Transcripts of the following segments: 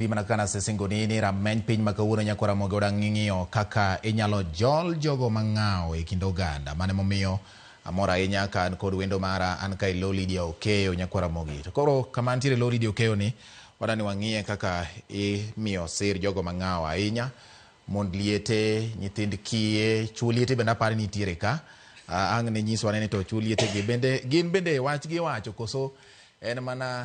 Pimna kana sisingo nini rameny piny ma kawuono nyako ramoge odang' ng'ing'iyo kaka inyalo jol jogo mang'awo e kind oganda mane momiyo amor ahinya ka an kod wendo mara an ka ilo Lydia Okeyo nyako ramogi to koro kama antiere lo Lydia Okeyo ni wadani wang'iye kaka imiyo sir jogo mang'awo ahinya mond liete nyithind kiye chuo liete bende aparo nitiere ka uh, ang' ne nyiswa nene to chuo liete gi bende gin bende wach gi wacho koso en mana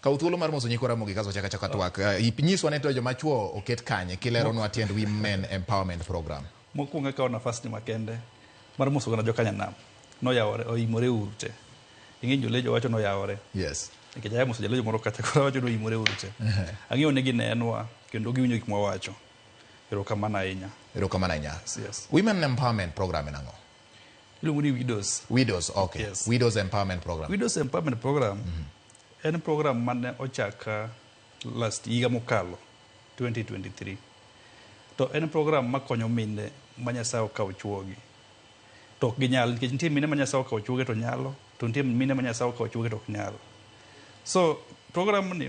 Kaw thuolo mar moso nyikwa Ramogi kaso wachak achaka twak. Eh, ip- Nyiswa ne to joma chwo oket kanye kileronwa tiend Women Empowerment Program. mokwongo akawo nafasni makende mar moso gana jokanyanam noyawore oimore uru te ing'e jolejo wacho noyawore Yes. nikech aya moso jalejo moro kacha koro awacho ni oimore uru te ang'eyo ni ginenwa kendo giwinjo gik mwawacho erokamano ahinya Erokamano ahinya. Yes. Women Empowerment Program en ang'o? iluongo ni widows Widows, okay. Yes. Widows Empowerment Program. widows empowerment program En program mane ochak last higa mokalo 2023. To en program makonyo mine ma Nyasaye okawo chuogi. To ok ginyal nikech nitie mine ma Nyasaye okawo chuogi to nyalo, to nitie mine ma Nyasaye okawo chuogi to ok nyal. So program ni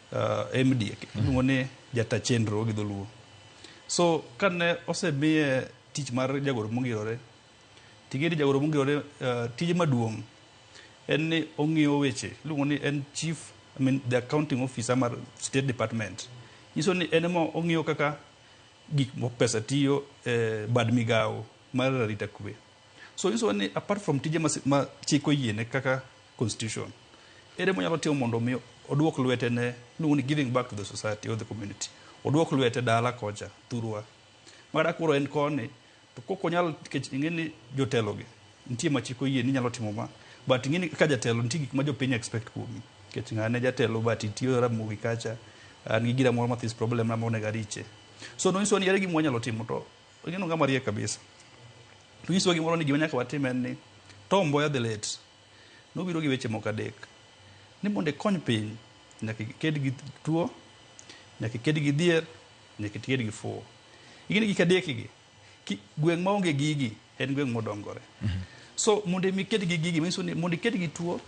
uh, MD iluongo ni jata chenro gi dholuo so kane osemiye tich mar jagoro mongirore ting'eni jagoro mongirore uh, tije maduong' en ni ong'iyo weche iluongo ni en chief I mean, the accounting officer mar state department nyiso ni en ema ong'iyo kaka gik mo- pesa tiyo eh, bad migawo mar arita kwe so nyiso ni apart from tije ma si- ma chik oyiene kaka Constitution. Ere monyalo timo mondo mi oduok lwete ne luongo ni giving back to the society or the community. Oduok lwete dala kocha thurwa. Mara koro en koni to kok onyal kech ingeni jotelo gi nitie ma chiko yie ni nyalo timo ma but ingeni ka jatelo nitie gik ma jopiny expect kuomi. Kech ngane jatelo but itiyo ramogi kacha an gi gira moro ma this problem na mone gariche. So no inso ni ere gima wanyalo timo to ingeno ngama riek kabisa. To inso gimoro ni gima nyaka watim en ni Tom Mboya the late Nobiro gi weche moko adek. Ni mondo ikony piny, nyaka iked gi tuo, nyaka iked gi dhier, nyaka iked gi fuwo. Ing'eni gik adek gi, ki, gweng' ma onge gigi en gweng' modongore. Mm -hmm. So mondo imi iked gi gigi, manyiso ni mondo iked gi tuo,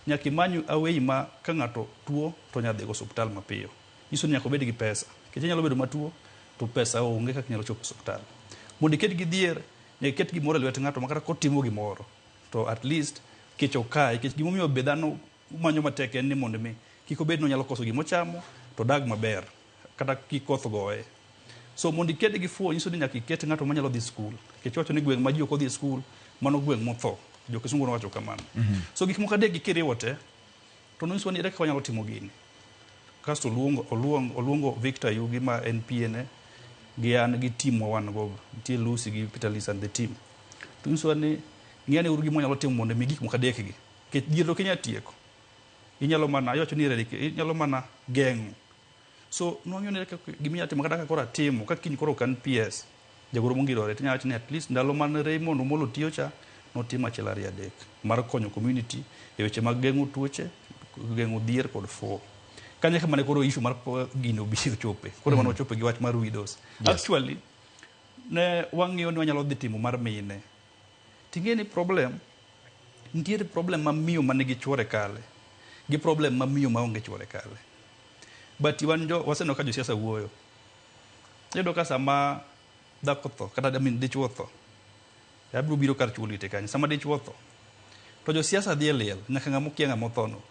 nyaka imany awei ma ka ng'ato tuo to nyaka dhigo osuptal mapiyo. Nyiso ni nyaka obed gi pesa. Nikech inyalo bedo matuo to pesa onge kaka inyalo chopo osuptal. Mondo iked gi dhier, nyaka iket gimoro e lwet ng'ato ma kata kotimo gimoro To at least kech ok kaye. Kech gimomiyo be dhano manyo matek en ni mondo mi kik obed ni onyalo koso gimochamo to odag maber kata kik koth goye. So mondo iked gi fuo nyiso ni nyaka iket ng'ato manyalo dhi skul. Kech iwacho ni gweng' ma ji ok odhi skul mano gweng' motho. Jo kisungu nowacho kamano. So gik moko adek gi kiriwo te, To nonyisowa ni ere kaka wanyalo timo gini. Kasto oluongo, oluongo, oluongo Victor Yugi ma en PA ne gi an gi team ma wan go. Nitie Lucy gi Peter Lisa and the team. To nyisowa ni ng'i ane uru gima wanyalo timo mondo mi gik moko adek gi. Nikech dhier to ok inyal tieko. Inyalo mana, iwacho ni inyalo mana geng'o. So nwang'eyo ni kaka gima inyalo timo kata ka koro atimo, ka kiny koro ok an PS, jagoro mongirore, tinyalo wacho ni at least ndalo mane Raymond Omolo tiyo cha, notimo achiel ariyo adek mar konyo community e weche mag geng'o tuoche, geng'o dhier kod fuwo. Kanyo eka mane koro issue mar po- gini obi ochope. Koro mane wachope gi wach mar widows. Actually, ne wang'iyo ni wanyalo dhi timo mar mine. Ting'e ni problem, nitiere problem ma miyo ma nigi chuore kale, gi problem ma miyo ma onge chuore kale. But wan jo, waseneno ka josiasa wuoyo. Iyudo ka sama dhako tho, kata I mean dichuo tho, abiro biro kar chuo liete kanyo. Sama dichuo tho, to josiasa dhi e liel, nyaka ng'ama okia ng'ama othono.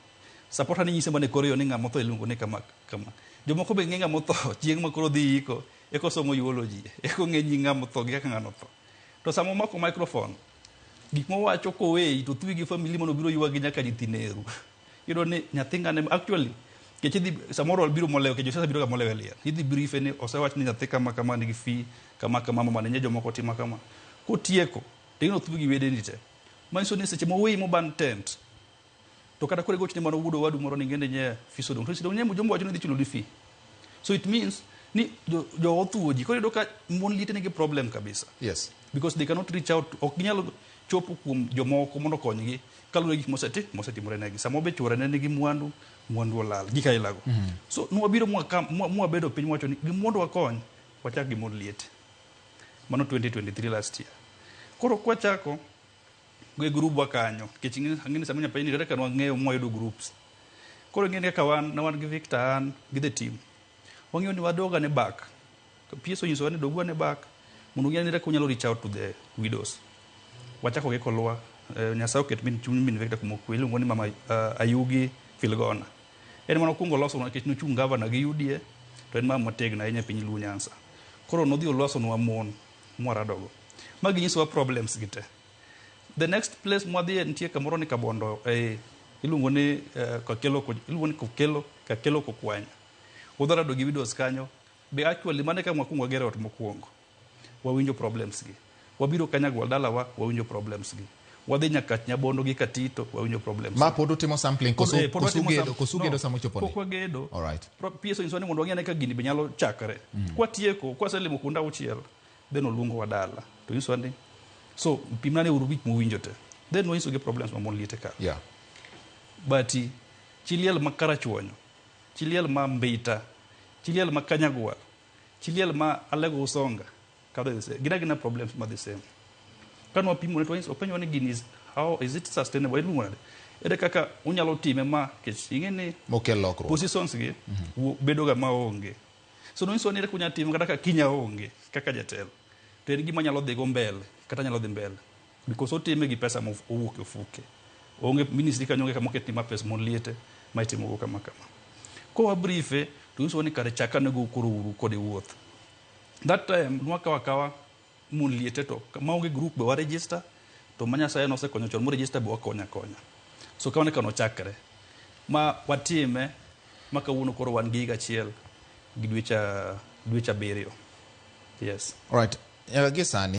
Sapota ni nyise mana e kor yo ni ng'ama otho iluongo ni kama kama. Jomoko be ng'e ng'ama otho, chieng' ma koro dhi iko, eka osomo eulogy, eka ong'e nying ng'ama otho gi kaka ng'ano otho. To sama omako microphone, gik mowacho koweyi to thuyi gi family mondo biro ywagi nyaka nyithi neru. Iyudo ni nyathi ng'ane actually kech idhi samoro biro molewo kech josiasa biro ga molewo e liel. Idhi briefe ni osewach ni nyathi kama kama nigi fee kama kama mama ne jomoko timo kama. Kotieko to ino thuyi gi wedeni te. Manyiso ni seche moweyi moban tent To kata kore gochne mano wudo wadu moro ni ngende nye fiso dong. To sidong nye mujombo wacho ni dhi chulo di fee. So it means ni jo, jo othuo ji. Koro yudo ka mon liete nigi problem kabisa. Yes. Because they cannot reach out. Ok ginyal chopo kuom jomoko mondo okonygi kaluwore gik moseti mosetimore negi. Sama be chuore ne nigi mwandu, mwandu olal. Gik ailago. Mm -hmm. So nwabiro mwaka mwabedo piny mwacho ni gimondo wakony wachak gi mon liete. Mano 2023 last year. Koro kwachako e grubwa kanyo nikech ing'e- ang'e ni sama nyapayi ni kata ka wang'eyo mwayudo groups koro ing'e ni kaka wan ne wan gi victor an gi the team wang'eyo ni wadoga ne back to ps onyisowa ni dogwa ne back mondo ung'e ni kaka unyalo reach out to the widows wachako gi kolwa eh, nyasaye oket min chuny min victor kuma okwe iluongo ni mama eh, ayugi filgona en mana okuongo loso nikech nochung gavana gi uda to en mama motegno ahinya e piny luo nyansa koro nodhi olosonwa mon mwaradogo. Ma ginyisowa problems gi te. The next place mwadhiye nitie kamoro ni Kabondo eh, iluongo ni eh, Kakelo Ko- iluongo ni Kokelo Kakelo Kokwanya. Udharado gi widows kanyo. Be actually mane ka mwakuongo wagero ot mokuongo. Wawinjo problems gi. Wabiro Kanyagwal dalawa wawinjo problems gi. Wadhi nyaka Nyabondo gi Katito wawinjo problems. Ma pod utimo sampling koso eh, koso gedo koso gedo sama ochopo ni. Pok wagedo. All right. PSO inso ni mondo wang'e ka gini be nyalo chakre. Mm. Kwa tieko, kwa selimo kunda uchiel, then oluongo wadala. To inso ni so pimna ne uru gik muwinjo te. Then wanyiso gi problems ma mon liete ka. Yeah. But chiliel ma karachuonyo, chiliel ma mbita, chiliel ma kanyagwa, chiliel ma alego usonga. Kaka they say, gina gina problems ma the same. Kano wapimo ne to wanyis- openjwa ni gini is how is it sustainable iluongo nade? Ere kaka unyalo time ma kech ing'e ni mokel lokruok positions gi wo- bedoga ma onge. So nonyiso ni ere kaka unyalo time kata ka kinya onge kaka jatelo. To en gima nyalo dhigo mbele kata nyalo dhi mbele because otime gi pesa mowuok e ofuke. Onge ministry kanyo onge kama oketni ma pesa mon liete ma itimogo kama kama. Kowa briefe to nyiso ni kare chakanego koro uru kode wuoth. That time nwakawa kawa mon liete to kama onge group be wa register to ma Nyasaye nosekonyo chon mo register be wakonya konya. So kawane kano chakre ma watime ma kawuono koro wan gi higa achiel gi dweche dweche abiriyo. Yes. Alright. Nyaka gi sani